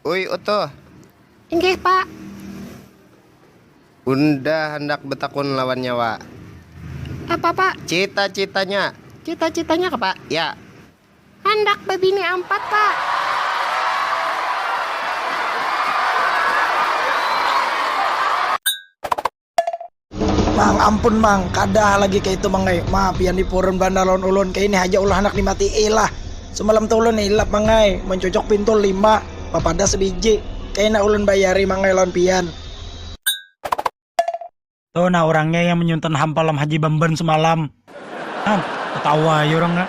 Uy Utuh. Inggih, Pak. Unda handak betakun lawan nya, Wak. Apa, Pak? Cita-citanya. Cita-citanya kah, Pak? Ya. Handak babini ampat, Pak. Mang, ampun mang, kadah lagi kaya itu mang ai, ma pian ni purun banar lawan ulun, kaya ini haja ulah handak dimatii lah, semalam tu ulun hilap mang ai, mancucuk pintul lima, bapadah sebiji, kaya nah ulun bayari mang ai lawan pian. Tu nah urangnya yang menyuntan hampalam haji bamban semalam. Hang, tetawa ai urang nya.